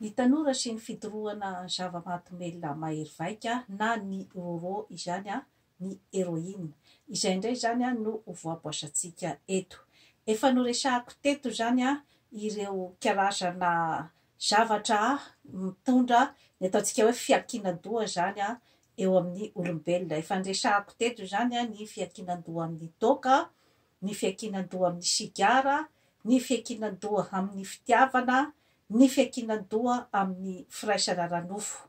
Ny tanora sy ny fidorohana zava-mahadomelina mahery vaika na ny rôrô izany ny héroïne. Izay indray izany no ho voaboasantsika eto. Efa noresahako teto izany ireo karazana zavatra mitondra ny ataontsika hoe fiankinan-doha izany eo amin'ny olombelona. Efa niresahako teto izany ny fiankinan-doha amin'ny toaka, ny fiankinan-doha amin'ny sigara, ny fiankinan-doha amin'ny fitiavana, ny fiankinan-doha amin'ny firaisana ara-nofo.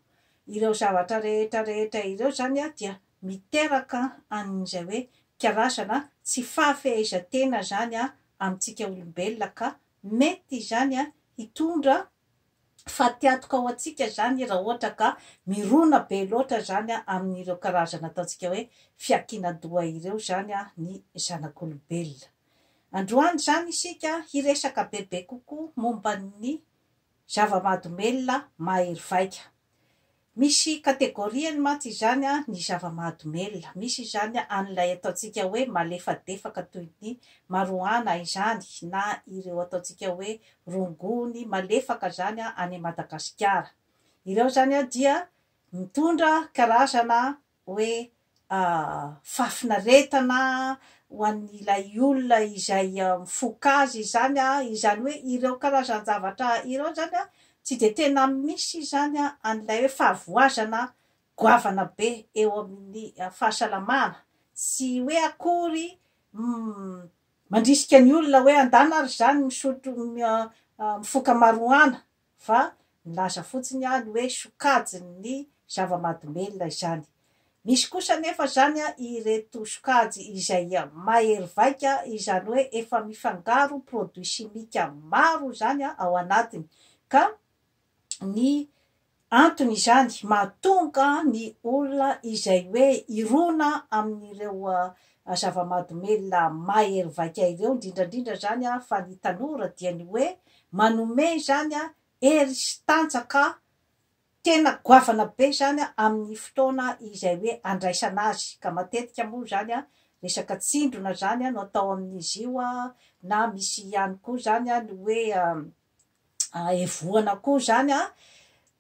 Ireo zavatra rehetra rehetra ireo izany dia miteraka an'izay hoe karazana tsy fahafehezan-tena izany amintsika olombelona ka mety izany hitondra fatiantoka ho antsika izany raha ohatra ka mirona be loatra izany amin'ireo karazana ataontsika hoe fiankinan-doha ireo izany ny zanak'olombelona. Androany izany isika hiresaka bebe kokoa momba ny zava-mahadomelina mahery vaika. Misy kategoriany mantsy izany ny zava-mahadomelina. Misy izany an'ilay ataontsika hoe malefadefaka toy ny marohana izany na ireo ataontsika hoe rongony malefaka izany any Madagasikara. Ireo izany dia mitondra karazana hoe fahafinaretana ho an'ilay olona izay mifoka azy izany, izany hoe ireo karazan-javatra ireo izany tsy dia tena misy izany an'ilay hoe fahavoazana goavana be eo amin'ny fahasalamana, tsy hoe akory mandrisika ny olona hoe andana ary izany misotro mifoka marijuana fa nilaza fotsiny aho ny hoe sokajin' ny zava-mahadomelina izany. Misy kosa anefa izany ireto sokajy izay mahery vaika, izany hoe efa mifangaro produits chimiques maro izany ao anatiny, ka ny antony izany mahatonga ny olona izay hoe hirona amin' ireo a zava-madomelina mahery vaika ireo indrindra indrindra izany a fa ny tanora dia ny hoe manome izany a hery sy tanjaka tena goavana be izany a amin'ny fotoana izay hoe andraisana azy ka matetika moa izany a resaka tsindrona izany a no atao amin'izy io a na misy ihany koa izany a ny hoe evohana koa zany an,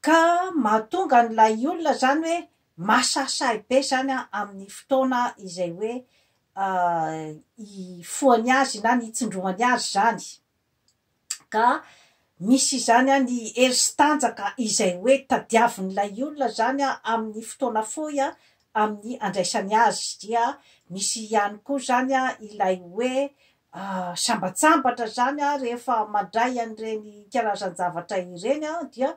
ka mahatonga an'ilay olona zany hoe masahisahy be zany an amin'ny fotoana izay hoe hifohany azy na ny hitsindrohany azy zany, ka misy izany an ny hery sy tanjaka izay hoe tadiavin'ilay olona zany an amin'ny fotoana fohy an amin'ny handraisany azy, dia misy ihany koa zany an ilay hoe Sambatsambatra izany rehefa mandray an'ireny karazan-javatra ireny dia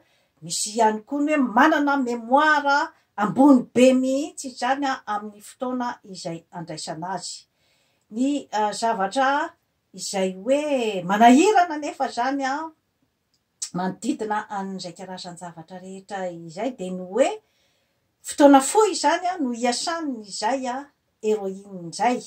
misy ihany koa ny hoe manana mémoire ambony be mihitsy izany amin'ny fotoana izay andraisana azy. Ny zavatra izay hoe manahirana anefa izany manodidina an'izay karazan-javatra rehetra izay dia ny hoe fotoana fohy izany no iasan'izay heroine izay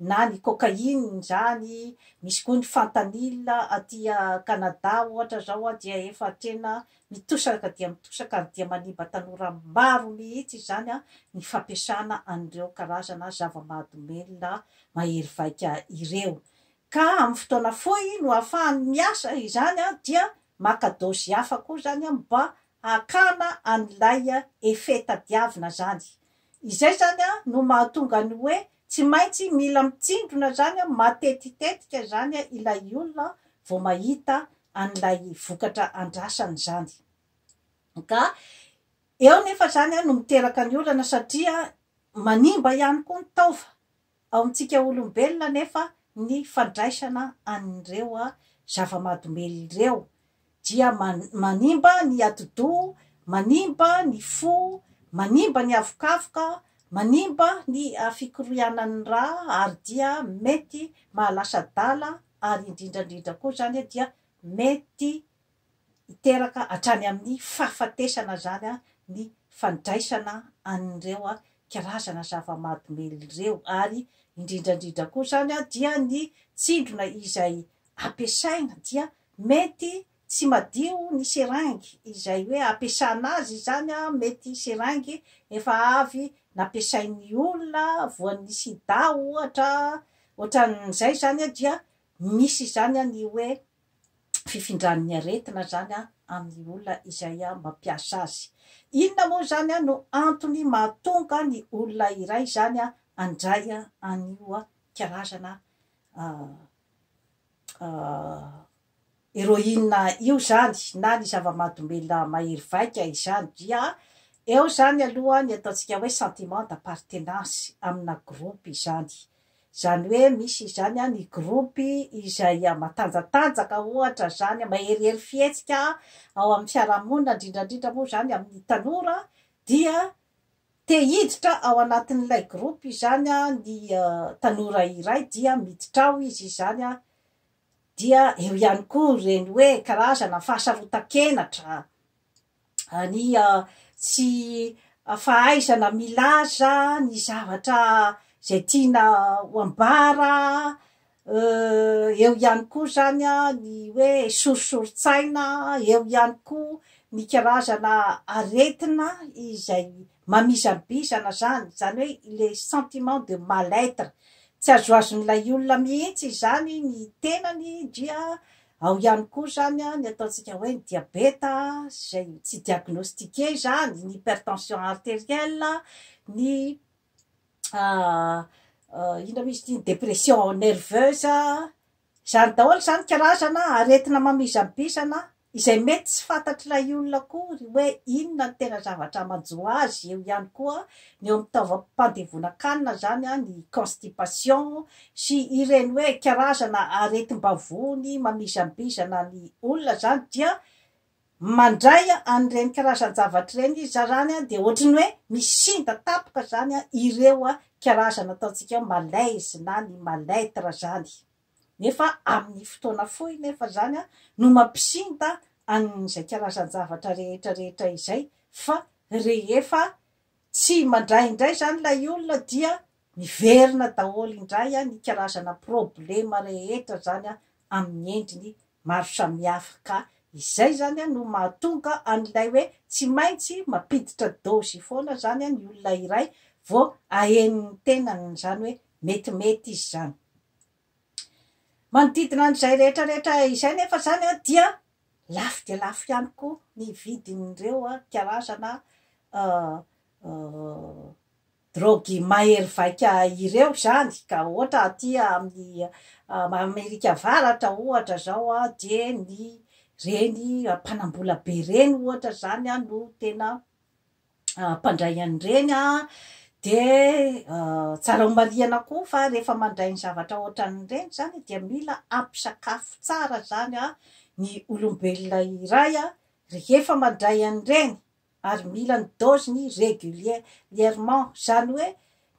na ny cocaïne izany, misy koa ny fentanyl aty Canada ohatra izao dia efa tena mitosaka dia mitosaka ary dia manimba tanora maro mihitsy izany ny fampiasana an'ireo karazana zava-mahadomelina mahery vaika ireo. ka amin'ny fotoana fohy no ahafahany miasa izany dia maka dose hafa koa zany mba hakana an'ilay effet tadiavina zany. Izay zany no mahatonga ny hoe tsy maintsy mila mitsindrona zany matetitetika zany ilay olona vao mahita an'ilay vokatra andrasany zany. Ka eo nefa zany no miteraka ny olana satria manimba ihany koa ny taova. Ao amintsika olombelona anefa ny fandraisana an'ireo zava-mahadomelina ireo dia manimba ny atidoha, manimba ny fo, manimba ny havokavoka, manimba ny fikorianan'ny ra ary dia mety mahalasa adala ary indrindrandrindra koa izany dia mety hiteraka hatrany amin'ny fahafatesana izany ny fandraisana an'ireo karazana zava-mahadomelina ireo ary indrindra indrindra koa izany dia ny tsindrona izay ampiasaina dia mety tsy madio ny seringue izay hoe ampiasana azy izany mety seringue efa avy nampiasain'ny olona voan'ny sida ohatra ohatran'izay izany dia misy izany ny hoe fifindran'ny aretina izany amin'ny olona izay mampiasa azy. Inona moa izany no antony mahatonga ny olona iray izany handray an'io karazana héroïne io izany na ny zava-mahadomelina mahery vaika izany? Dia eo izany aloha ny ataontsika hoe sentiment d'appartenance amina groupe izany. Izany hoe misy izany an ny gropy izay matanjatanjaka ohatra izany, maherihery fihetsika ao amin'ny fiarahamonina, indrindra indrindra moa izany amin'ny tanora, dia te hiditra ao anatin'ilay gropy izany an ny tanora iray dia miditra ao izy izany an, dia eo ihany koa ireny hoe karazana fahasarotan-kenatra, ny tsy fahaizana milaza ny zavatra izay tiana ho ambara, eo ihany koa izany ny hoe sorisorin-tsaina, eo ihany koa ny karazana aretina izay mamizabizana izany, izany hoe le sentiment de mal être, tsy azoazon'ilay olona mihitsy izany ny tenany dia Ao ihany koa izany ny ataontsika hoe ny diabeta izay tsy diagnostiquer izany, ny hypertension arterielle, ny inona moa izy ity, ny depression nerveuse, izany daholo izany karazana aretina mamizabizana izay mety tsy fantatr'ilay olona akory hoe inona no tena zavatra manjo azy, eo ihany koa ny eo amin'ny taovam-pandevonan-kanina izany ny constipation, sy ireny hoe karazana aretim-bavony mamizambizana ny olona zany dia mandray an'ireny karazan-javatra ireny izy zany dia ohatry ny hoe misinda tampoka zany ireo karazana ataontsika hoe malaise na ny mal être zany nefa amin'ny fotoana fohy nefa zany no mampisinda an'izay karazan-javatra rehetra rehetra izay fa rehefa tsy mandray indray zany ilay olona dia Miverina daholo indray ny karazana problema rehetra izany amin'ny endriny maro samihafa ka izay izany no mahatonga an'ilay hoe tsy maintsy mampiditra dôzy foana izany ny olona iray vao ahenony ny tenany izany hoe metimety izy izany. Manodidina an'izay rehetrarehetra izay nefa izany dia lafo dia lafo ihany koa ny vidin'ireo karazana Drogy mahery vaika ireo izany ka ohatra aty amin'ny Amerika Avaratra ohatra izao dia ny ireny mpanambola be ireny ohatra izany no tena mpandray an'ireny dia tsara homarihina koa fa rehefa mandray ny zavatra ohatran'ireny izany dia mila hampisakafo tsara izany ny olombelona iray rehefa mandray an'ireny ary mila ny dose-ny regulierement, izany hoe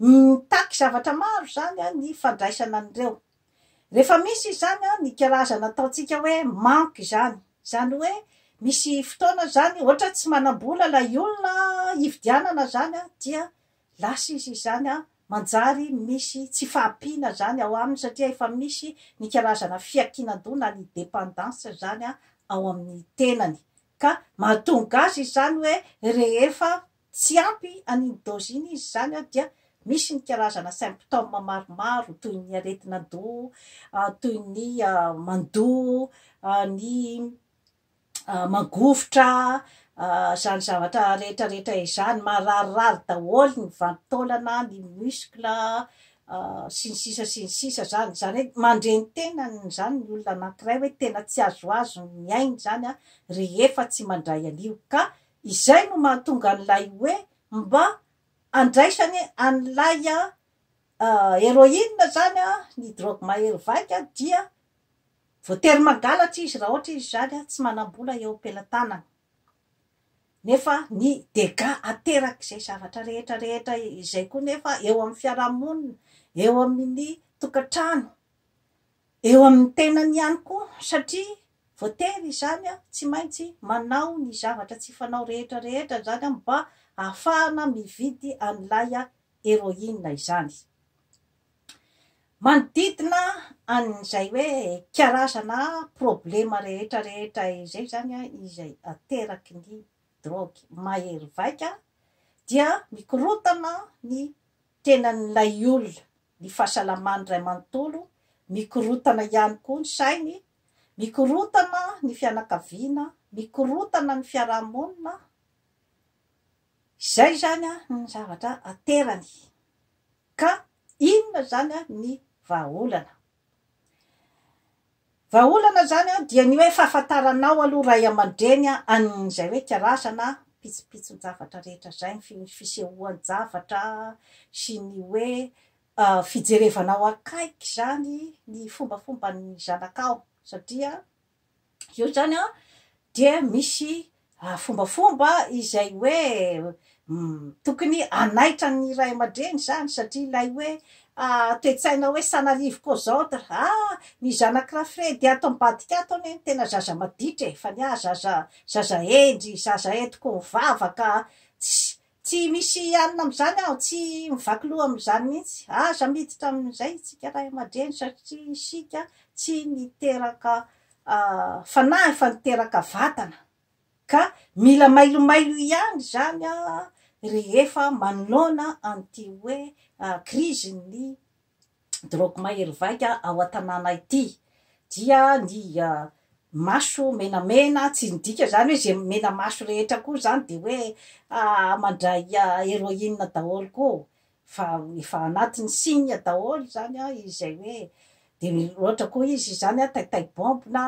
mitaky zavatra maro izany ny fandraisana an'ireo. Rehefa misy izany ny karazana ataontsika hoe manque izany, izany hoe misy fotoana izany ohatra tsy manam-bola ilay olona hividianana izany dia lasa izy izany manjary misy tsy fahampiana izany ao aminy satria efa misy ny karazana fiankinan-doha na ny dependance izany ao amin'ny tenany, Ka mahatonga azy izany hoe rehefa tsy ampy an'iny dose iny izy izany dia misy ny karazana symptômes maromaro toy ny aretin'adoha, toy ny mandoa, ny mangovitra, izany zavatra rehetra rehetra izany, mararirary daholo ny vantolana, ny muscle, sy ny sisa sy ny sisa zany, zany hoe mandre ny tenany zany ny olona anankiray hoe tena tsy azoazo ny miaina zany an rehefa tsy mandray an'io ka izay no mahatonga an'ilay hoe mba andraisany an'ilay heroine zany an ny drogue mahery vaika dia voatery mangalatra izy raha ohatra izy zany an tsy manam-bola eo am-pelatanana Nefa ny dégâts aterak'izay zavatra rehetra rehetra izay koa nefa eo amin'ny fiarahamonina, eo amin'ny tokantrano, eo amin'ny tenany ihany koa satria voatery izany tsy maintsy manao ny zavatra tsy fanao rehetra rehetra izany mba hahafahana mividy an'ilay héroïne izany. Manodidina an'izay hoe karazana problema rehetra rehetra izay izany izay ateraky ny drogue mahery vaika dia mikorotana ny tenan'ilay olona, ny fahasalamany iray manontolo, mikorotana ihany koa ny sainy, mikorotana ny fianakaviana, mikorotana ny fiarahamonina, Izay izany ny zavatra aterany. Ka inona izany ny vahaolana? Vahaolana izany dia ny hoe fahafantaranao aloha ray aman-dreny an'izay hoe karazana pitsopitson-javatra rehetra izay, ny fisehoan-javatra sy ny hoe fijerevanao akaiky izany ny fombafomban'ny zanakao satria eo zany an dia misy fombafomba izay hoe tokony hanaitra ny ray aman-dreny zany satria ilay hoe toe-tsaina hoe ça n'arrive qu'aux autres, ah ny zanak'i Rafredy ato ambadika ato anie no tena zaza maditra e! fa ny ahy zaza zaza hendry, zaza entiko mivavaka, Tsy misy hianina amin'izany aho, tsy mivaky loha amin'izany mihitsy. Aza miditra amin'izay isika ray aman-dreny satria isika tsy niteraka fanahy fa niteraka vatana ka mila mailomailo ihany izany rehefa manoana an'ity hoe krizin'ny drogue mahery vaika ao an-tanàna ity dia ny maso menamena, tsy midika izany hoe izay menamaso rehetra koa izany dia hoe mandray héroïne daholo koa fa efa anatin'ny signe daholo izany izay hoe dia loatra koa izy izany taitaibômby na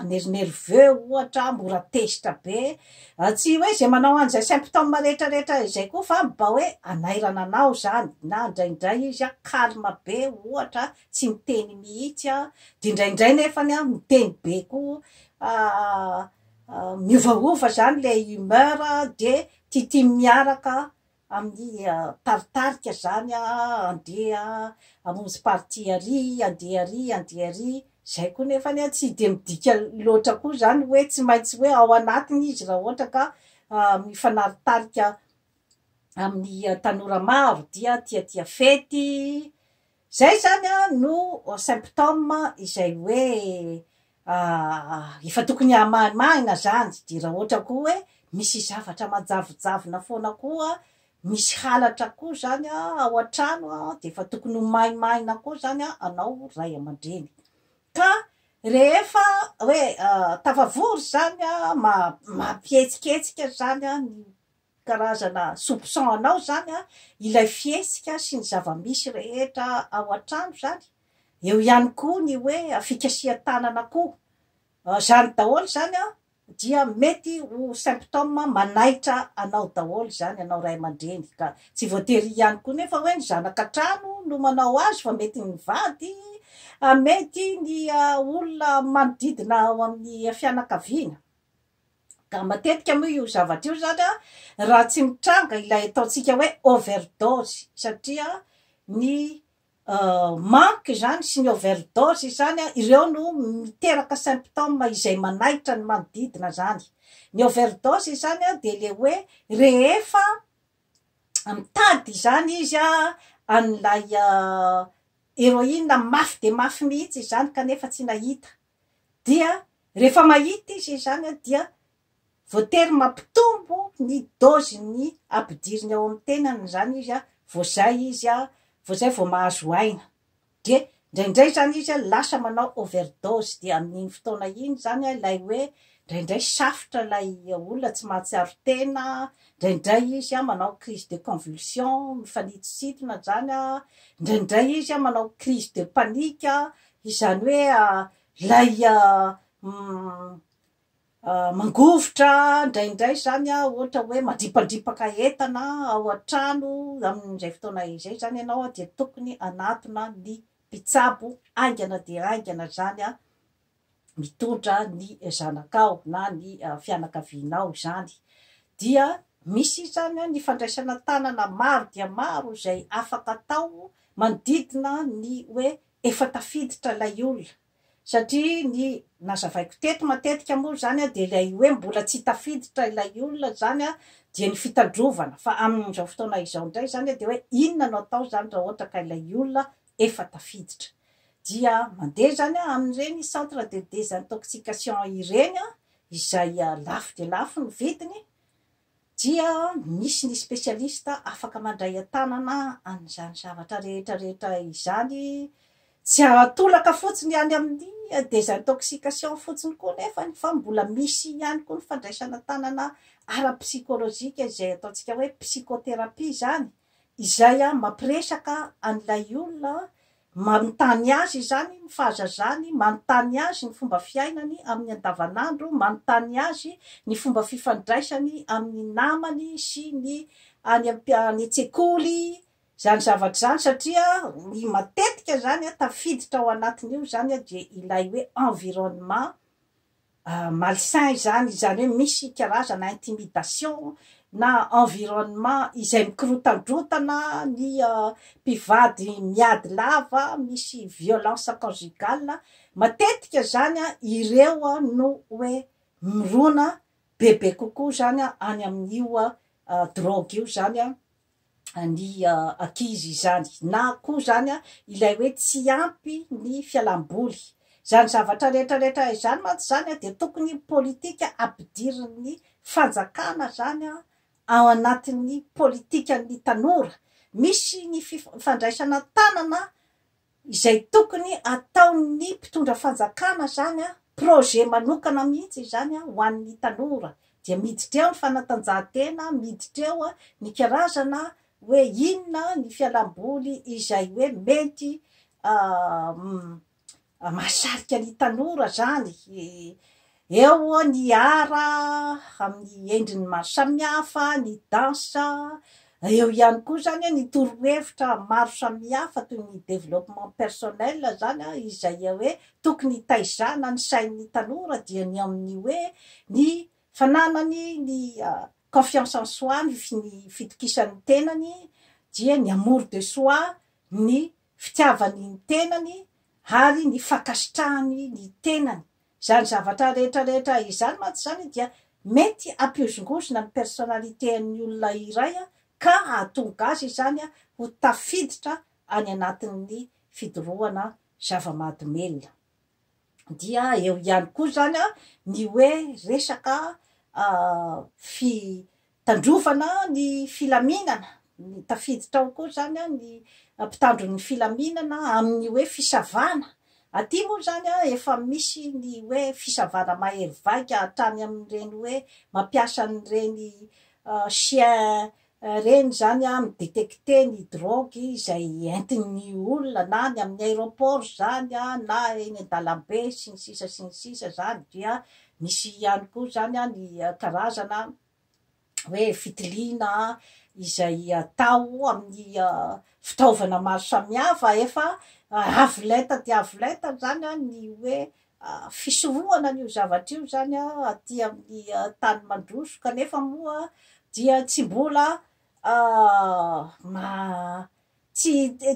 nerveux ohatra mora tezitra be A Tsy hoe izay manao an'izay symptômes rehetra rehetra izay koa fa mba hoe hanairana anao izany na indraindray izy an calme be ohatra tsy miteny mihitsy an dia indraindray nefany an miteny be koa a miovaova izany ilay humeur dia tiatiany miaraka amin'ny taritarika zany andeha hamonjy partie ary andeha ary andeha ary zay koa nefany a tsy dia midika loatra koa zany hoe tsy maintsy hoe ao anatiny izy raha ohatra ka mifanaritarika amin'ny tanora maro dia tiatia fety Izay izany no symptôme izay hoe efa tokony hamaimahina izany dia raha ohatra koa hoe misy zavatra manjavojavona foana koa, misy halatra koa izany ao an-trano dia efa tokony ho maimahina koa izany anao ray aman-dreny. Ka rehefa hoe tafavory izany, mampihetsiketsika izany ny Karazana soupçon anao zany an, ilay fihetsika sy ny zava-misy rehetra ao an-trano zany, eo ihany koa ny hoe fikasihan-tanana koa, zany daholo zany an dia mety ho symptômes manaitra anao daholo zany anao ray aman-dreny ka, tsy voatery ihany koa nefa hoe ny zanaka an-trano no manao azy fa mety ny vady, mety ny olona manodidina ao amin'ny fianakaviana. Ka matetika moa io zavatra io zany raha tsy mitranga ilay ataontsika hoe overdose satria ny manque zany sy ny overdose zany ireo no miteraka symptômes izay manaitra ny manodidina zany. Ny overdose zany dia le hoe rehefa mitady izany izy an'ilay heroine mafy dia mafy mihitsy izany kanefa tsy nahita. dia rehefa mahita izy izany dia voatery mampitombo ny dose ny ampidiriny ao amin'ny tenany izany izy vao izay izy vao izay vao mahazo aina dia indraindray izany izy lasa manao overdose dia amin'iny fotoana iny izany ilay hoe indraindray safotra ilay olona tsy mahatsiaro tena indraindray izy manao crise de convulsion mifanitositona izany indraindray izy manao crise de panique Izany hoe ilay mangovitra indraindray izany ohatra hoe mandripandripaka entana ao an-trano amin'izay fotoana izay izany ianao dia tokony hanatona ny mpitsabo haingana dia haingana izany mitondra ny zanakao na ny fianakavianao izany. Dia misy izany ny fandraisana tanana maro dia maro izay afaka atao manodidina ny hoe efa tafiditra ilay olona satria ny nazavaiko teto matetika moa izany dia ilay hoe mbola tsy tafiditra ilay olona izany dia ny fitandrovana fa amin'izao fotoana izao indray izany dia hoe inona no atao izany raha ohatra ka ilay olona efa tafiditra dia mandeha izany amin'ireny centre de désintoxication ireny izay lafo dia lafo ny vidiny dia misy ny spesialista afaka mandray an-tanana an'izany zavatra rehetra rehetra izany, tsy atolaka fotsiny any amin'ny desintoxication fotsiny koa nefany fa mbola misy ihany koa ny fandraisana an-tanana ara-psikolojika izay ataontsika hoe psychothérapie izany, izay mampiresaka an'ilay olona Manontany azy izany ny fahazazany, manontany azy ny fomba fiainany amin'ny andavanandro, manontany azy ny fomba fifandraisany amin'ny namany sy ny any an-tsekoly, izany zavatra izany, satria ny matetika izany tafiditra ao anatin'io izany dia ilay hoe environnement. malsain izany, izany hoe misy karazana intimidation na environnement izay mikorotandrotana ny mpivady miady lava, misy violence conjugale, matetika izany an, ireo no hoe mirona bebe kokoa izany any amin'io drogue io izany an, ny ankizy izany na koa izany ilay hoe tsy ampy ny fialam-boly. Izany zavatra rehetra rehetra izany mantsy izany dia tokony politika ampidirin'ny fanjakana izany ao anatin'ny politikan'ny tanora. Misy ny fifandraisana tanana Izay tokony ataon'ny mpitondra fanjakana zany a, projet manokana mihitsy izany a ho an'ny tanora, dia miditra eo ny fanatanjahantena, miditra eo ny karazana hoe inona ny fialamboly izay hoe mety mahasarika ny tanora zany, Eo ny art amin'ny endriny maro samihafa, ny danse, eo ihany koa izany ny torohevitra maro samihafa toy ny développement personnel izany an, izay hoe tokony hitaizana ny sain'ny tanora dia ny amin'ny hoe ny fananany ny confiance en soi, ny fitokisany ny tenany, dia ny amour de soi, ny fitiavany ny tenany ary ny fankasitrahany ny tenany. Izany zavatra rehetra rehetra izany mantsy izany dia mety hampihozongozona ny personnalité an'ny olona iray ka hahatonga azy izany ho tafiditra any anatin'ny fidorohana zava-mahadomelina. Dia eo ihany koa izany ny hoe resaka Tandrovana ny filaminana, ny tafiditra ao koa izany ny mpitandro ny filaminana amin'ny hoe fisavana. Aty moa izany efa misy ny hoe fisavana mahery vaika hatrany amin'ireny hoe mampiasa an'ireny chien ireny izany mi-detecter ny drogue izay entin'ny olona na ny amin'ny aéroport izany na eny an-dalambe sy ny sisa sy ny sisa izany dia Misy ihany koa izany ny karazana hoe fitiliana izay atao amin'ny fitaovana maro samihafa. Efa avo lenta dia avo lenta izany ny hoe fisorohana an'io zavatra io izany aty amin'ny tany mandroso kanefa moa dia tsy mbola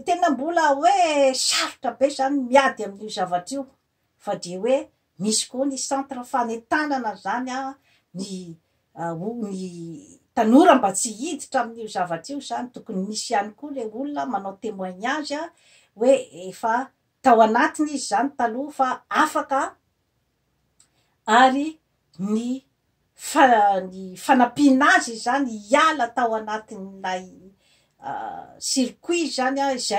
tena mbola hoe sarotra be izany ny miady amin'io zavatra io. fa dia hoe misy koa ny centre fanentanana izany an, ny ho ny tanora mba tsy hiditra amin'io zavatra io izany tokony misy ihany koa ilay olona manao témoignage an, hoe efa tao anatiny izy izany taloha fa afaka an, ary ny fa ny fanampiana azy izany hiala tao anatin'ilay circuit izany an izay.